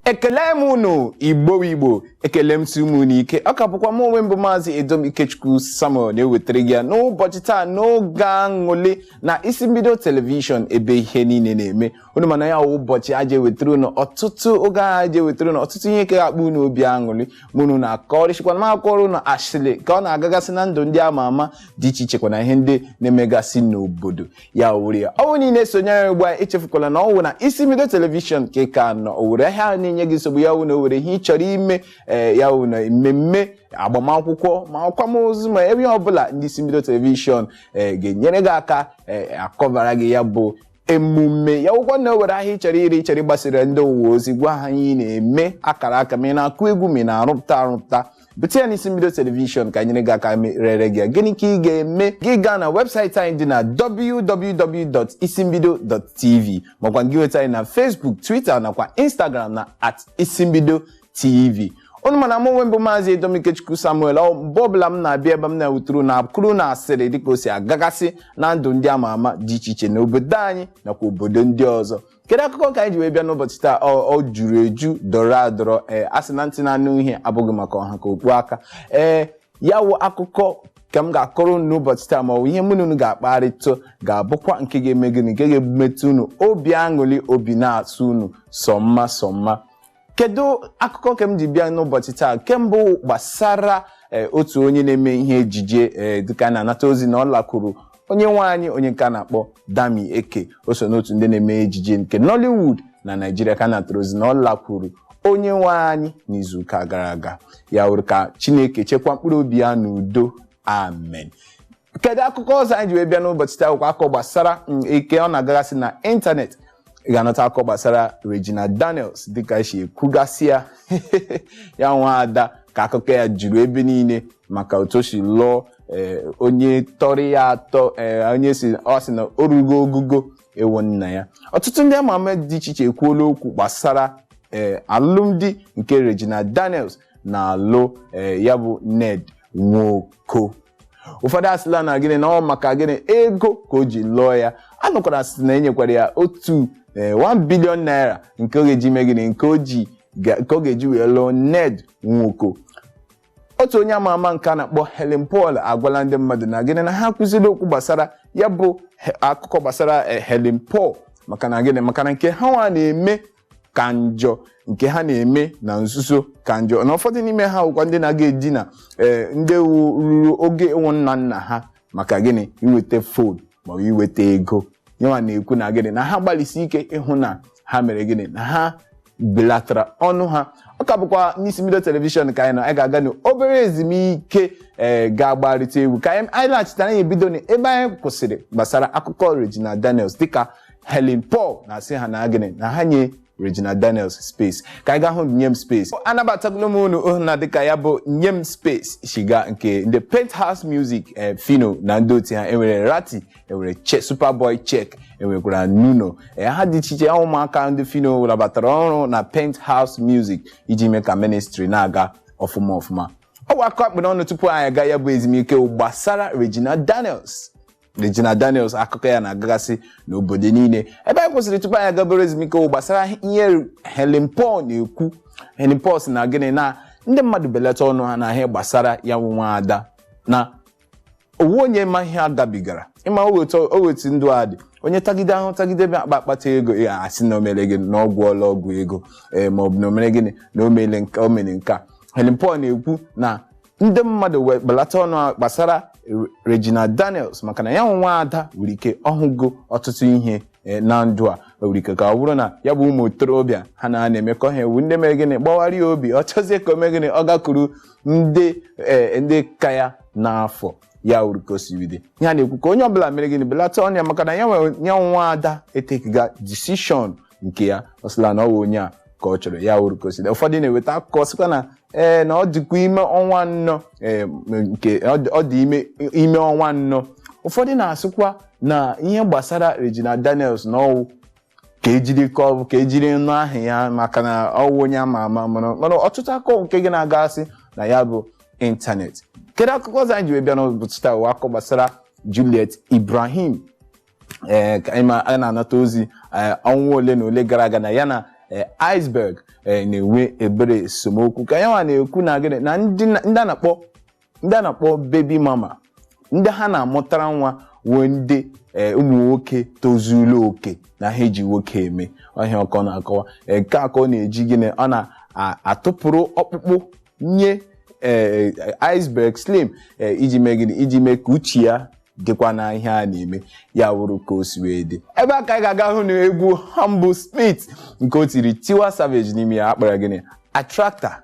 ekele m unu igbo igbo ekele m si m unu ike ọ ka bụkwa m onwe m bụ maazị edom ikechukwu samuel na-ewetara gị ya n'ụbọchị taa n'oge aṅụlị na isi mbido telivishọn ebe ihe niile na-eme unu ma na ya wụ ụbọchị a ja-ewetara unu ọtụtụ oge ahụ a ja-ewetara unu ọtụtụ ihe nke ga-akpa unu obi aṅụlị mụ na unu na-akọrịsịkwa m akọrọ unu ashịlị ka ọ na-agagasị na ndụ ndị ama ama dị iche iche kwa na ihe ndị na-emegasị n'obodo ya wụrụ ya ọ wụ na ị na-esonyere ugbu a echefukwala na ọ wụ na isi mbido telivishọn ka ị ka nọ o nwere ahịa ahụ na-enye gị nsogbu ya wụ na o nwere ihe ị chọrọ ime ee ya wụ na mmemme agbamakwụkwọ ma akwamozu ma ebe ọbụla ndị isi mbido telivishọn ee ga-enyere gị aka ee akọbara gị ya bụ emume ya wụkwa na e nwere ahịa ị chọrọ ire ị chọrọ ịgbasara ndị ụwa ozi gwa ha ihe ị na-eme akara aka ma ị na-akụ egwu ma ị na-arụpụta arụpụta bute ya n'isi mbido telivishọn ka e nyere gị aka rere gị ya. gịnị ka ị ga-eme gị gaa na webụsaịtị anyị dị na www.isimbido.tv makwa gị nweta anyị na Facebook Twitter nakwa Instagram na at isimbido tv unu ma na m onwe m bụ maazị Edom Ikechukwu Samuel ọ mgbe ọbụla m na-abịa ebe m na-ewetara unu akụkọ na asịrị dịka o si agagasị na ndụ ndị ama ama dị iche iche n'obodo anyị nakwa obodo ndị ọzọ kedu akụkọ ka anyị ji wee bịa n'ụbọchị taa ọ juru eju dọrọ adọrọ ee a sị na ntị na-anụ ihe abụghị maka ọ ha ka okpu ata ee ya wụ akụkọ ka m ga-akọrọ unu n'ụbọchị taa ma ọ bụ ihe mụ na unu ga-akparịta ga-abụkwa nke ga-eme gịnị nke ga-emetụ unu obi aṅụrị obi na-atọ unu sọ mma sọ mma kedu akụkọ nke m ji bịa n'ụbọchị taa nke mbụ gbasara eh, otu onye na-eme ihe ejije eh, dịka a na-anata ozi na ọ lakwuru onye nwe anyị onye nke a na-akpọ Dammy Eke o so n'otu ndị na-eme ejije nke Nollywood na Naịjirịa ka a natara ozi na ọ lakwuru onye nwe anyị n'izuụka gara aga ya wụrụ ka Chineke chekwa mkpụrụ obi ya n'udo amen kedu akụkọ ọzọ anyị ji wee bịa n'ụbọchị taa ọ wụkwa akụkọ gbasara mm, dịka ọ na-agagasị na ịntanetị ị ga-anụta akụkọ gbasara Regina Daniels dịka e si ekwugasị ya ya nwa ada ka akụkọ ya juru ebe niile maka otu o si lụọ eh, onye tọrọ ya atọ eh, onye si ọ sị na o rugo ogogo ịwụ nna ya ọtụtụ ndị ama ama dị iche iche ekwuola okwu gbasara eh, alụmdi nke Regina Daniels na-alụ eh, ya bụ Ned Nwoko ụfọdụ asịla na gịnị na ọ maka gịnị ego ka o ji lụọ ya a nụkwara a sị na e nyekwara ya otu ee, 1 bilion naira nke ọ ga-eji mee gịnị nke o ji ga- nke ọ ga-eji wee lụọ ned nwoko otu onye ama ama nke a na-akpọ helen paul agwala ndị mmadụ na gịnị na ha ekwuzila okwu gbasara ya bụ he- akụkọ gbasara eh, helen paul maka na gịnị maka na nke ha nwa na-eme ka njọ nke ha na-eme na nzuzo ka njọ na ụfọdụ n'ime ha bụkwa ndị na-aga edina ee ndị wu ruru ogo ịwụ nna nna ha maka gịnị iweta fon maọbụ iweta ego yanwa na-ekwu na gịnị na ha gbalịsi ike ịhụ na ha mere gịnị na ha belatara ọnụ ha ọ ka bụkwa n'isi mbido telivishọn ka anyị nọ anyị ga-aga n'obere ezumike ee ga-agbarịta egwu ka anyị anyị laghachita anyị ebido n'ebe anyị kwụsịrị gbasara akụkọ Regina Daniels dịka Helen Paul na-asị ha na gịnị na ha nye Regina Daniels space ka anyị gaa hụ nye m space anabatakwala m unu ohu na dịka ya bụ nye m space shi gaa nke ndị Penthauze Music eh, Phyno na ndị otu ha enwere Rhatti enwere che Superboy Cheque enwekwara Nuno eh, ha dị iche iche ahụ ụmụaka ndị Phyno nabatara ọrụ na Penthauze Music iji mee ka ministry na-aga ọfụma ọfụma ọ bụ akụkọ a kpụ n'ọnụ tupu anyị aga ya bụ ezumike gbasara Regina Daniels Regina Daniels akụkọ ya na-agagasị n'obodo niile ebe anyị kwụsịrị tupu anyị aga obere ezumike wụ gbasara ihe Helen Paul na-ekwu Helen Paul sị na gịnị na ndị mmadụ belata ọnụ ha na ihe gbasara ya nwa nwa ada na ọ wụ onye ma ihe a gabigara ị ma o nwe etu ndụ a dị onye tagide ahụhụ tagide bịa akpa akpata ego ya a sị na o mere gịnị na ọ gwọọla ọgwụ ego ee maọbụ na o mere gịnị na o mere nke o mere nke a Helen Paul na-ekwu na ndị mmadụ wee belata ọnụ ha gbasara Re- Regina Daniels maka na ya nwa nwa ada nwere ike ọ hụgo ọtụtụ ihe eh, na ndụ a o nwere ike ka ọ bụrụ na ya bụ ụmụ okorobịa ha na na-emekọ ihe wụ ndị mere gịnị gbawara ya obi ọ chọzie ka o mee gịnị ọ gakwuru ndị eh, ndị ka ya n'afọ ya wụrụ ka o si wee dị ihe a na-ekwu ka onye ọbụla mere gịnị belata ọnụ ya maka na ya nwa ya nwa nwa ada etakega decision nke ya ọ sịla na ọ wụ onye a ka ọ chọrọ ya wụrụ ka o si dị. ụfọdụ na-eweta akụkọ sịkwa na ee na ọ dịkwa ime ọnwa anọ ee, m- nke ọ dị- ọ dị ime ime ọnwa anọ ụfọdụ na-asịkwa na ihe gbasara Regina Daniels na ọ wụ ka ejiri ka ọ bụ ka ejiri nụ aha ya maka na ọ wụ onye ama ama mana mana ọtụtụ akụkọ nke ya na-agagasị na ya bụ ịntanetị kedu akụkọ ọzọ anyị ji wee bịa n'ụbọchị taa wụ akụkọ gbasara Juliet Ibrahim ee ka anyị ma- anyị na-anata ozi ee, ọnwa ole na ole gara aga na ya na ee, Iceberg ee, na-enwe ebere esemokwu ka yanwa na-ekwu na gịnị na ndị na- ndị a na-akpọ ndị a na-akpọ baby mama ndị ha na-amụtara nwa wee ndị ee, ụmụ nwoke tozuru oke na ha eji nwoke eme ọhịa ọkọ na-akọwa Ee, nke a ka ọ na-eji gịnị ọ na-atụpụrụ ọkpụkpụ nye ee Iceberg Slim ee iji mee gịnị iji mee ka uche ya dịkwa na ihe a na-eme ya wụrụ ka o si wee dị ebe a ka anyị ga-aga hụ na egwu Humblesmith nke o tiri Tiwa Savage n'ime ya a kpọrọ gịnị Attracta